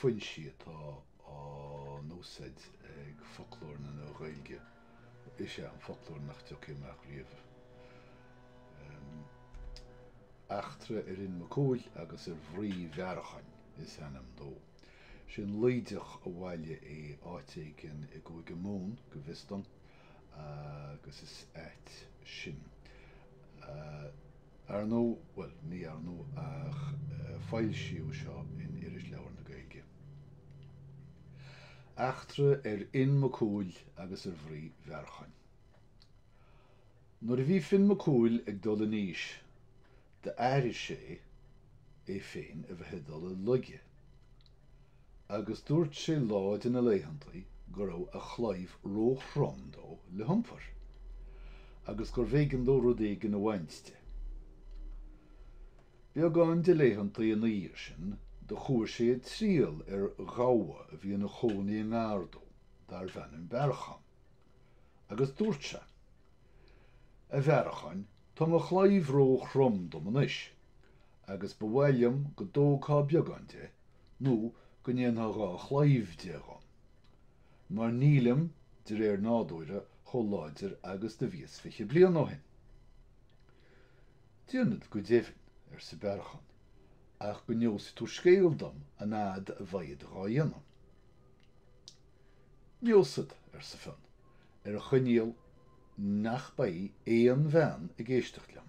foinsí atá á n-úsaid ag Foclóir na Nua-Ghaeilge is é an foclóir nach dtiocfaidh amach riamh. Eachtra ar Fhinn Mac Cumhaill agus ar mhnaoi Bhearracháin is ainm dó. Sé an Laoideach a bhailigh é áit éigin i gCúige Mumhan, go bhfios dom, agus is ait sin. Ar ndóigh, bhuel, ní ar ndóigh ach foilsíodh seo in Irisleabhar na Gaeilge. Eachtra ar Fhinn Mac Cumhaill agus ar mhnaoi Bhearracháin. Nuair a bhí Finn Mac Cumhaill ag dul in aois d'airigh sé é féin a bheith ag dul i laige. agus dúirt sé lá de na laethantaí go raibh a chlaíomh ró-throm dó le hiompar, agus gurbh éigean dó rud éigin a bhaint de. Beagán de laethantaí ina dhiaidh sin, do chuaigh sé ag triall ar ghabha a bhí ina chónaí i ngar dó, darbh ainm Bearrachán, agus dúirt sé, A Bhearracháin, tá mo chlaíomh ró-throm dom anois, agus ba mhaith liom go dtógfá beagán de nó go ndéanfá dhá chlaíomh de dhom, mar nílim, de réir nádúire, chomh láidir agus do bhíos fiche bliain ó shin. Déanfad, go deimhin, arsa Bearrachán, ach go neosfaidh tú scéal dom an fhad a bhead dhá dhéanamh. Neosfad, arsa Fionn, ar a choinníoll nach beidh aon bhean ag éisteacht liom.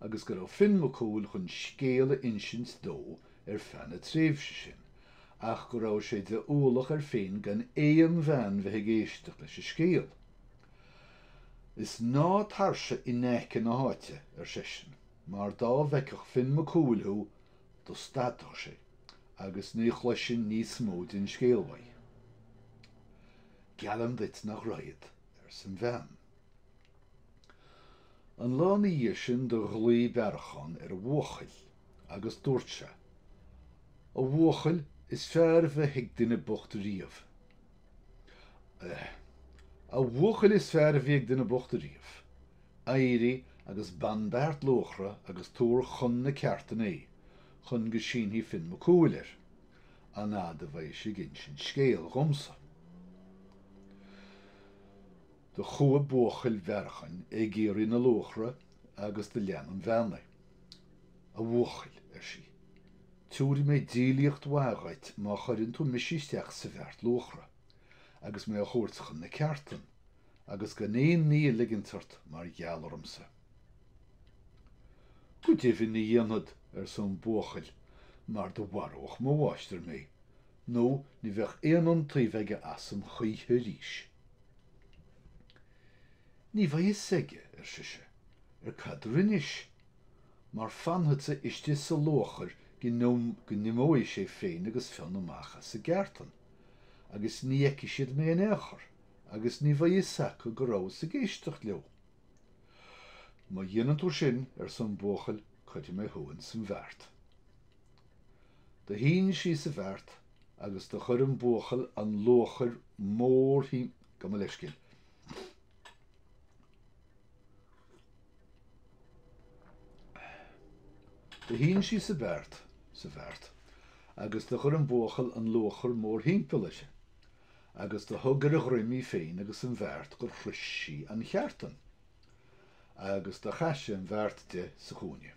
agus go raibh Finn Mac Cumhaill chun scéal a insint dó ar feadh na tréimhse sin, ach go raibh sé de ualach air féin gan aon bhean bheith ag éisteacht leis an scéal. Is ná tarsa i n-aice na h-áite, ar seisean, mar dá bhfeicfeadh Finn Mac Cumhaill thú, do stadfadh sé, agus ní chloisinn níos mó den scéal uaidh. Geallaim duit nach raghad, arsa an bhean. An lá ina dhiaidh sin do ghlaoigh Bearrachán ar a bhuachaill agus dúirt sé, A bhuachaill, is fearr bhí ag duine bocht riamh, eh, a bhuachaill is fearr a bhí ag duine bocht ariamh, éirigh agus bain beart luachra agus tabhair chun na ceártan é chun go sínfidh Finn Mac Cumhaill air, an fhad a bheidh sé ag insint scéil dhomsa. Do chuaigh buachaill Bhearcháin ag iarraidh na luachra agus do lean an bhean é. A bhuachaill, ar sí, tabharfaidh mé díolaíocht mhaith dhuit má chuireann tú mise isteach sa bheart luachra agus mé a thabhairt chun na ceártan, agus gan aon ní a ligint ort mar gheall ormsa. Go deimhin ní dhéanfad, arsa an buachaill, mar do mharódh mo mháistir mé, nó ní bheadh aon iontaoibh aige asam choíche arís. Ní bheidh fhios aige, ar sise, ar cad a rinnis, mar fanfadsa istigh sa luachair go n-imeoidh sé féin agus Fionn amach as an gceártain, agus ní fheicfidh siad mé in aon chor, agus ní bheidh fhios acu go rabhas ag éisteacht leo. Má dheineann tú sin, arsa an buachaill, cuirfidh mé thú ins an bheart. Do shín sí sa bheart agus do chuir an buachaill an luachair mór thimp Gabh mo leithscéal. Do shín sí sa bheart, sa bheart, agus do chuir an buachaill an luachair mórthimpeall uirthi, agus do thug ar a dhroim í féin agus an bheart gur shrois sí an cheártan, agus do chaith sé an bheart de sa chúinne.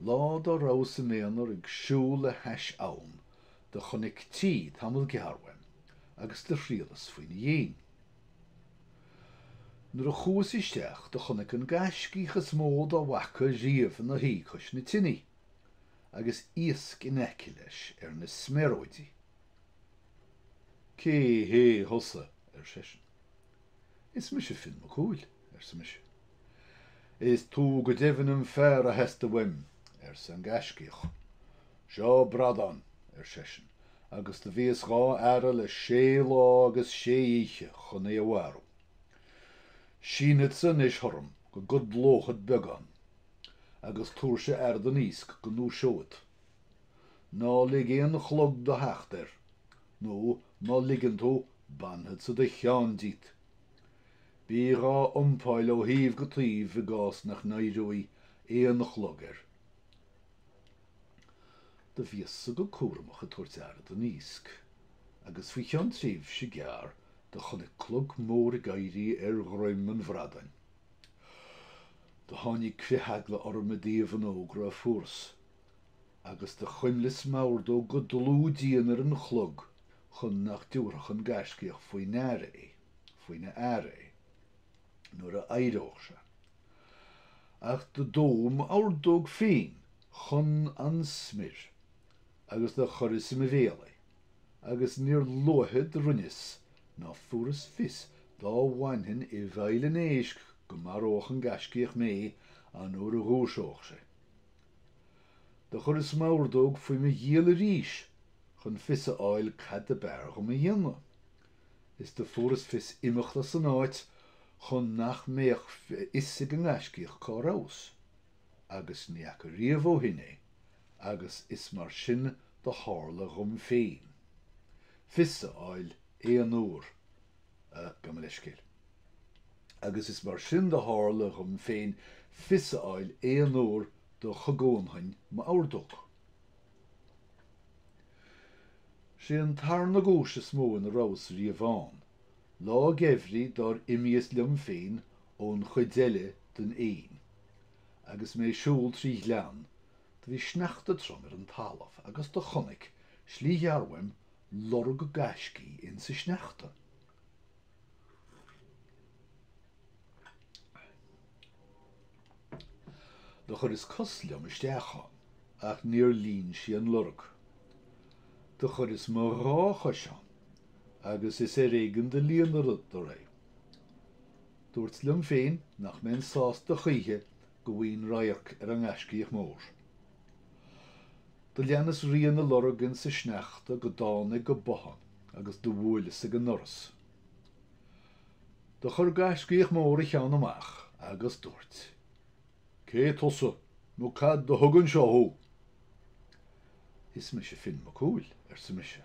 Lá dá rabhas im' aonar ag siúl le hais abhann do chonaic tigh tamall gearr uaim agus do thriallas faoina dhéin. Nuair a chuas isteach do chonaic an gaiscíoch is mó dá bhfaca riamh ina shuí cois na tineadh agus iasc in aice leis ar na sméaróidí. Cé hé thusa? ar seisean. Is mise Fionn Mac Cumhaill, arsa mise. Is tú go deimhin an fear a theastaigh uaim, arsa an gaiscíoch. Seo bradán, ar seisean, agus do bhíos dhá fhaire le sé lá agus sé oíche chun é a mharú. Sínfeadsa anois tharam go gcodlóchad beagán agus tabhairse aire don iasc go ndúiseoid. Ná lig aon chlog do theacht air, nó má ligeann tú, bainfeadsa do cheann díot, Bí dhá iompáil ó thaobh go taobh i gcás nach n-éireoidh aon chlog air. Do bhíos-sa go cúramach ag tabhairt aire don iasc, agus faoi cheann tréimhse gearr do chonaic clog mór ag éirí ar dhroim an bhradáin. Do tháinig critheagla orm i dtaobh an fhógra a fuaras. Agus do chuimleas m'ordóg go dlúth dian ar an chlog chun nach dtiubharfadh an Gaiscíoch faoi ndeara é, faoina aire é, nuair a éireódh sé. Ach do dódh m'ordóg féin chun an smior agus do chuireas i mo bhéal é, agus níor luaithe do rinneas ná fuaras fios dá bhfainfinn i bhfeighil an éisc go maródh an Gaiscíoch mé an uair a dhúiseódh sé. Do chuireas m'ordóg faoi mo ghiall arís chun fios a fháil cad ab fhearr dhom a dhéanamh. Is do fuaireas fios imeacht as an áit chun nach mbeadh fhios ag an ngaiscíoch cá rabhas, agus ní fhaca riamh ó shin é, agus is mar sin do tharla dhom féin fios a fháil aon uair Gabh mo leithscéal. Agus is mar sin do tharla dhom féin fios a fháil aon uair do chognóinn m'ordóg. Sé an tarna guais is mó ina rabhas riamh ann, lá geimhridh dár imíos liom féin ón chuid eile den Fhéinn agus mé ag siúl trí ghleann, do bhí sneachta trom ar an talamh agus do chonaic, slí ghearr uaim, lorg gaiscígh ins a sneachta. Do chuireas cos liom isteach ann, ach níor líon sí an lorg. Do chuireas mo dhá chois ann, agus is ar éigean do líonadar é. Dúirt liom féin nach mbeinn sásta choíche go bhfaighinn radharc ar an ngaiscíoch mór. Do leanas rian a lorg insa sneachta go dtánag go bothán agus do bhuaileas ag an ndoras. Do chuir gaiscíoch mór a cheann amach agus dúirt. Cé tusa nó cad do thug anseo thú? Is mise Finn Mac Cumhaill, arsa mise,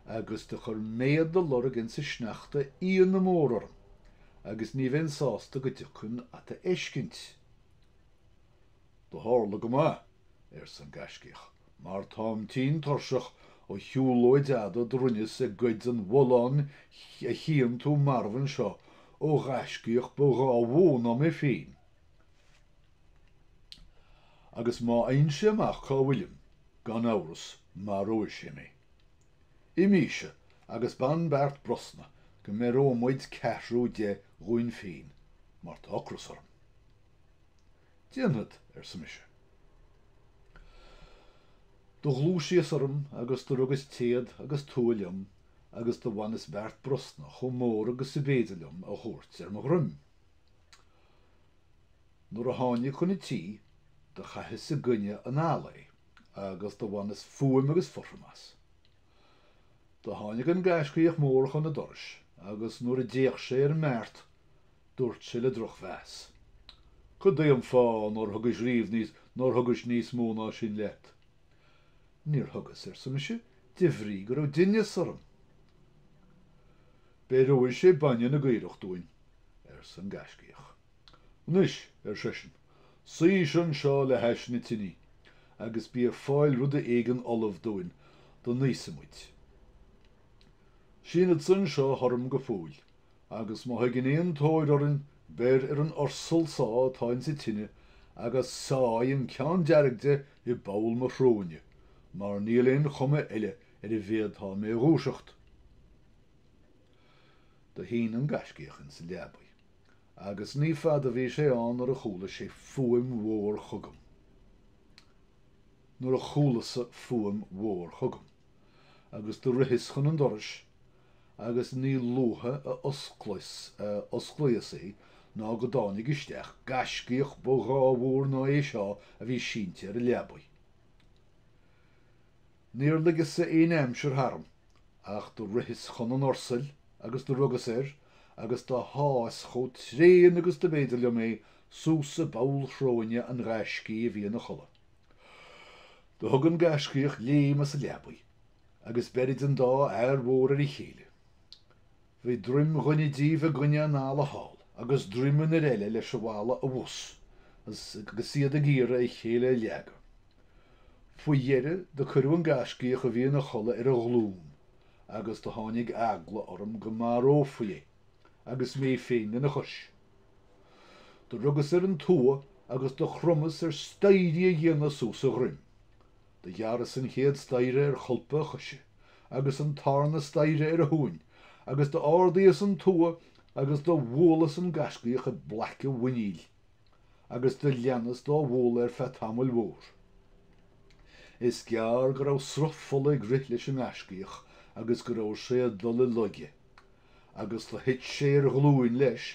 agus do chuir méad do lorg insa sneachta ionadh mór orm agus ní bheinn sásta go dtiocfainn ad fheiscint. Do tharla go maith, arsa an Gaiscíoch, mar táim tinn tuirseach ó shiúlóid fhada do rinneas ag goid an bhulláin a chíonn tú marbh anseo ó Ghaiscíoch ba dhá mhó ná mé féin, agus má fhaghann sé amach cá bhfuilim, gan amhras maróidh sé mé. Imíse agus bain beart brosna go mbeireoidh muid ceathrú de dhúinn féin, mar tá ocras orm. Déanfad, arsa mise. Do ghluaisíos orm agus do rugas téad agus tua liom agus do bhaineas beart brosna chomh mór agus ab fhéidir liom a thabhairt ar mo dhroim. Nuair a thánag chun an tí, do chaitheas i gcoinne an fhalla é agus do bhaineas fuaim agus fothram as. Do tháinig an gaiscíoch mór chun an dorais agus nuair a d'fhéach sé ar an mbeart, Dúirt sé le drochmheas. Cad é an fáth nár thugais riamh níos, nár thugais níos mó ná sin leat? Níor thugas, arsa mise, de bhrí go raibh dithneas orm. Beireoidh sé bainne na gcaorach dúinn, arsa an Gaiscíoch. Anois, ar seisean, suíse anseo le hais na tine agus bí ag fáil ruda éigin ullamh dúinn dá n-íosfaimid. Sínfeadsa anseo tharaim go fóill, agus má thigeann aon tóir orainn, beir ar an ursal so atá ins a tine agus sáigh an ceann dearg de i bpoll mo shróine, mar níl aon chuma eile ar a bhféadfá mé dhúiseacht. Do shín an gaiscíoch insa leabaidh, agus ní fada bhí sé ann nuair a chuala sé fuaim mhór chugam. nuair a chualasa fuaim mhór chugam. agus do ritheas chun an dorais agus ní luaithe a osclaíos í ná go dtáinig isteach gaiscíoch ba dhá mhó ná é seo a bhí sínte ar an leabaidh. Níor ligeas-sa aon aimsir tharam ach do ritheas chun an ursail agus do rugas air agus do shás chomh tréan agus do b'fhéidir liom é suas i bpoll shróine an ghaiscígh a bhí ina chodladh. Do thug an gaiscíoch léim as a leabaidh agus beirid an dá fhear mhór ar a chéile. Bhí droim dhuine díobh i gcoinne an fhalla thall agus droim an fhir eile leis an bhfalla abhus agus iad ag iarraidh a chéile a leagadh. Faoi dheireadh do cuireadh an gaiscíoch a bhí ina chodladh ar a ghlún agus do tháinig eagla orm go marófaí é agus mé féin lena chois. Do rugas ar an tua agus do chromas ar staighrí a dhéanamh suas a dhroim. Do ghearras an chéad staighre ar cholpa a choise, agus an tarna staighre ar a thóin, agus d'ardaíos an tua agus do bhualas an gaiscíoch i bplaic a mhuiníl, agus do leanas dá bhualadh ar feadh tamaill mhór. Is gearr go raibh sruth fola ag rith leis an ngaiscíoch agus go raibh sé ag dul i laige, agus do thit sé ar ghlúin leis,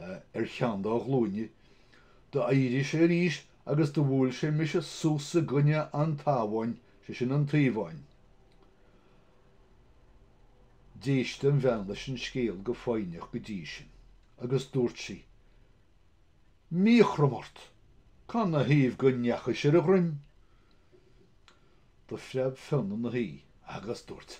ar cheann dá ghlúine, d'éirigh sé arís agus do bhuail sé mise suas i gcoinne an tSabháin, sé sin an taobhán. D'éist an bhean leis an scéal go foighneach go dtí sin agus dúirt sí, Míchothrom ort! Cá na thaobh go ndeachaidh sé ar a dhroim? Do phreab Fionn ina shuí agus dúirt,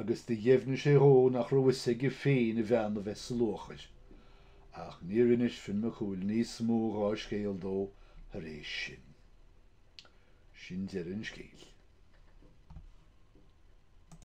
agus do dheimhnigh sé dhó nach raibh fhios aige féin a bhean a bheith sa luachair, ach níor inis Fionn Mac Cumhaill níos mó dhá scéal dó thar éis sin. Sin deireadh an scéil.